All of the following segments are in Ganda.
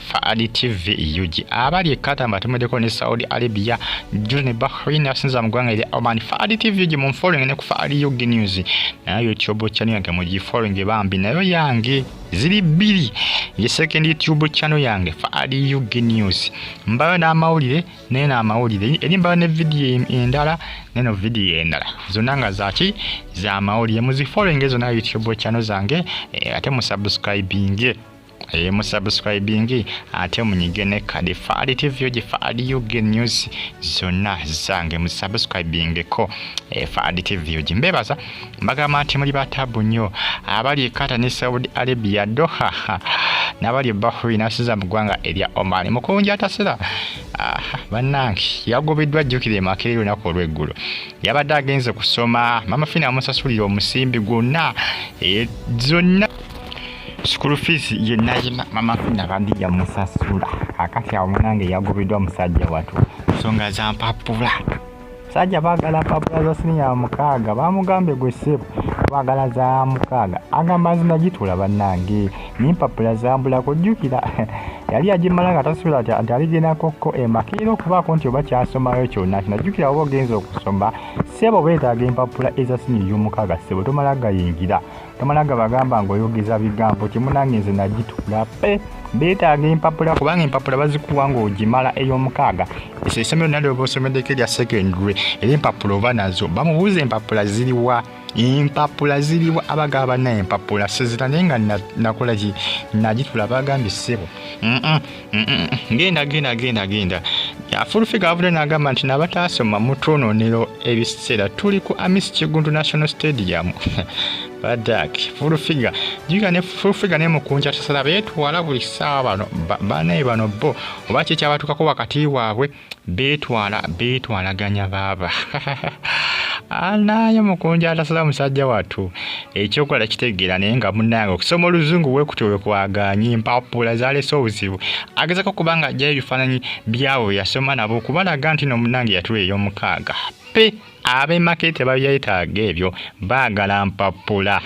Faali TV UG abali ekata mbatumedeko ne Saudi Arabia juu ne Bahrain asinza mugwanga ili Oman Faali TV UG mu following ne ku Faali UG news nayo YouTube channel yange mu following bambi nayo yange ziri bbiri ye second YouTube channel yange Faali UG news mbayo n'amawulire naye n'amawulire eri mbayo ne video endala neno video endala zonna nga zaki za mawulire muzi following ezo na YouTube channel zange eh, ate mu subscribing eye eh, musubscribingi ate munyige ne kadi faali tv ogi faali ug news zonna zange musubscribingeko eh, faali tv ogi mbebaza mbagamba nti muli batabu nnyo abali ekata ne saudi arabia doha nabali bahri nasiza mu ggwanga erya omani mukunja atasira bannange yagobeddwa ajjukira emakere olunaku olweggulo yabadde agenze kusoma mama fina amusasulira omusimbi gwonna eh, zonna School fees ye nayima mama fina bandi ya musasula akati ya mwanange yagobedwa musajja watu songa za mpapula sajja bagala mpapula za sini ya mukaga bamugambe gwe sebo bagala za mukaga agamba zina jitula banange ni mpapula za mbula kujukira yali ajimala nga tasula ati ati aligena kokko emakiro kuba konti oba kyasoma yo kyona kinajukira obo genzo okusoma sebo beta ge mpapula eza sini yo mukaga sebo tomala gayingira tomala gabagamba nga oyogeza bigambo kimunange nze nagitula pe beetaaga empapula kubanga empapula bazikuwa ngaogimala eyomukaaga eso esomero nalioba osomeddeko erya secondary era empapula oba nazo bamubuuza empapula ziriwa empapula ziriwa abagaba banaye empapula sezira naye nga nakolaki nagitula bagambye ssebo ngenda genda genda genda afulufiga avudde n'agamba nti nabataasoma mutwononero ebiseera tuli ku amis kigundu national stadium badak fulufiga jiga ne fulufiga ne mukunja tasala betwala buli ssaawa bano banaye bano bo oba kyekyabatuukako wakati waabwe beetwala beetwalaganya baaba anaye mukunja atasala musajja wattu ekyokola kitegeera naye nga munange okusoma oluzungu bwekutyo wekwaganye empapula zalese obuzibu agezako okuba nga ajjayo ebifaananyi byabo yasoma nabo okubalaga nti no munange yatula ey'omukaaga pe abe make tebabyetaaga ebyo baagala mpapula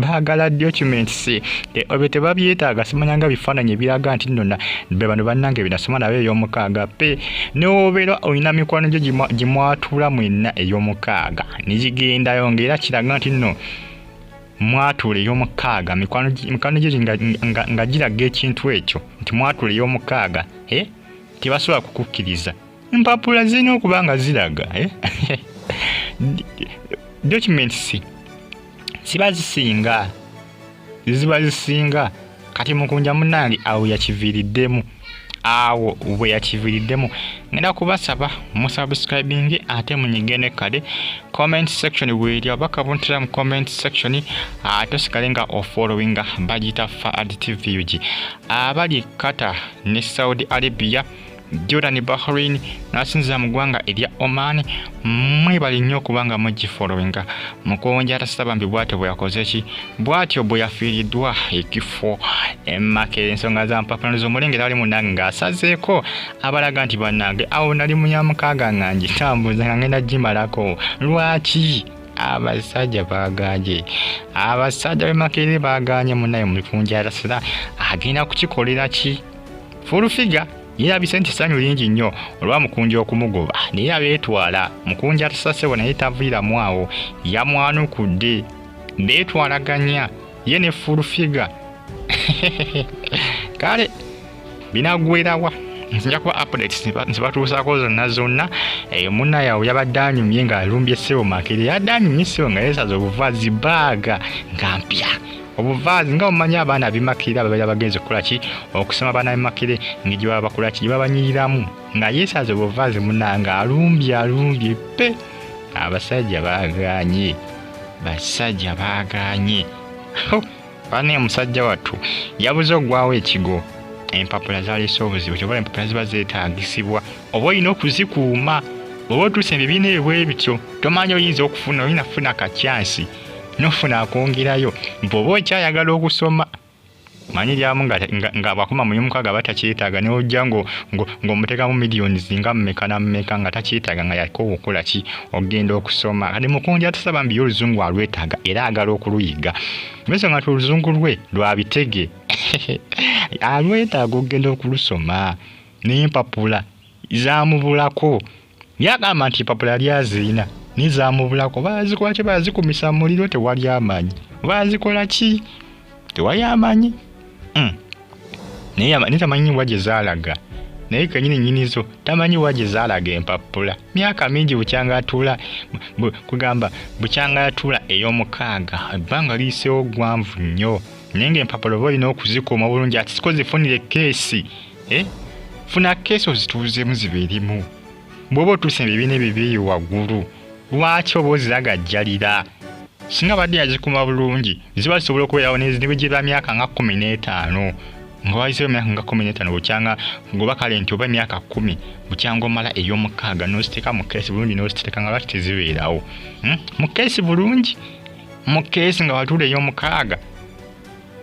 baagala documents ebyo tebabyetaaga simanyanga bifaananyi ebiraga nti nona be bano bannange binasoma nabo ey'omukaaga pe newobeera olina mikwano gyo gimwatula mwenna ey'omukaaga negigendayo ngaera kiraga nti nno mwatula ey'omukaaga mikwano gyo nga giraga ekintu ekyo nti mwatula ey'omukaaga eh? tebasobola kukukkiriza empapula zirina okuba nga ziraga eh? documents ziba zisinga ziba zisinga kati mukunja munange awo yakiviiriddemu awo bwe yakiviiriddemu ngenda kubasaba musubscribinge ate munyige ne kale comment section weeri oba kabuntira mu comment section ate osigale nga ofollowinga bagiyita faad tvug abali kata ne saudi arabia Jordan Bahrain n'asinziza mu ggwanga erya Oman mwebali nnyo okubanga mugifolowinga mukuwonja atasita bambi bwatyo bwe yakoze ki bwatyo bwe yafiiriddwa ekifo emakera ensonga za mpapulano z'omulengera ali munange ng'asazeeko abalaga nti bannange awo nali mu yamukaaga nga ngitambuza nga ngenda gimalako lwaki abasajja baganye abasajja bemakerere baganye munaye mulikunjara sira agenda kukikolera ki Furufiga yeerabise nti ssanyu lingi nnyo olwa mukunja okumugoba naye abeetwala mukunja atasasebo naye taviiramu awo yamwanukudde beetwalaganya ye ne furufiga kale binagwerawa nja kuba updates zebatuusaako zonna zonna eyo eh, munna yawe yabadde anyumye ng'alumbye ssebo makere yadde anyumye ssebo nga yeesaza obuvazi baaga nga mpya obuvaazi nga omanyi abaana abimakire ababeera bagenze kukola ki okusoma abaana bimakire nga gye baba bakola ki gye babanyiriramu nga yeesaza obuvaazi munanga alumbye alumbye pe abasajja baaganye basajja baaganye bana omusajja wattu yabuze okugwawo ekigo empapula zaleese obuzibu kyobola empapula ziba zeetagisibwa oba olina okuzikuuma oba otuusa ebibiina ebwe bityo tomanya oyinza okufuna olina kufuna kakyansi nofuna akwongerayo bwoba okyayagala okusoma manyi lyamu nga bwakoma mu yomukaga aba takyetaaga neojja ng'omuteekamu millions nga mumeka namumeka nga takyetaaga nga yakoowa okukola ki okugenda okusoma kati mukunja tusaba mbiyo oluzungu alwetaaga era agala okuluyiga ensonga nti oluzungu lwe lwabitege alwetaaga okugenda okulusoma naye empapula zamubulako Yagamba nti empapula yali aziina naye zamubulako. Bazikola ki? Bazikumisa mu muliro? Tewali amanyi. Bazikola ki? Tewali amanyi. Hmm. Naye tamanyi wa gye zaalaga. naye kenyini nyini zo tamanyi waje zalaga empapula myaka mingi bukyanga atula kugamba bukyanga atula eyomukaaga ebbanga liyisewo gwanvu nnyo naye nga empapula oba olina okuzikuuma bulungi ati siko zifunire keesi eh? funa keesi ozituuzemu zibeeremu bw'oba otuuse ebibiina ebyo byeyo waggulu lwaki oba oziragajjalira singa badde yazikuma bulungi ziba zisobola okubeerawo nebwegyeba myaka nga kumi n'etaano nga wayisewo emyaka nga kumi n'etaano bukyanga ngoba kale nti oba emyaka kumi bukyanga omala ey'omukaaga n'oziteeka mu keesi bulungi n'oziteeka nga lwaki tezibeerawo hmm? mu keesi bulungi mu keesi nga watuula ey'omukaaga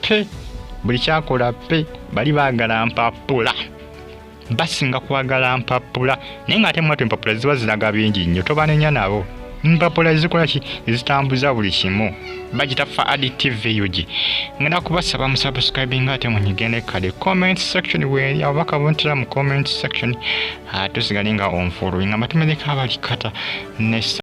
pe buli kyakola pe bali bagala mpapula basinga kwagala mpapula naye nga ate mwatu empapula ziba ziraga bingi nnyo tobanenya nabo mpapula ezikola ki ezitambuza buli kimu bagita fa additive ug ngenda kubasaba musubscribinga ate munyigende kale comment section weri abo bakabuntira mu comment section ah, tusigale nga onfuluinga matumedeka abalikata ne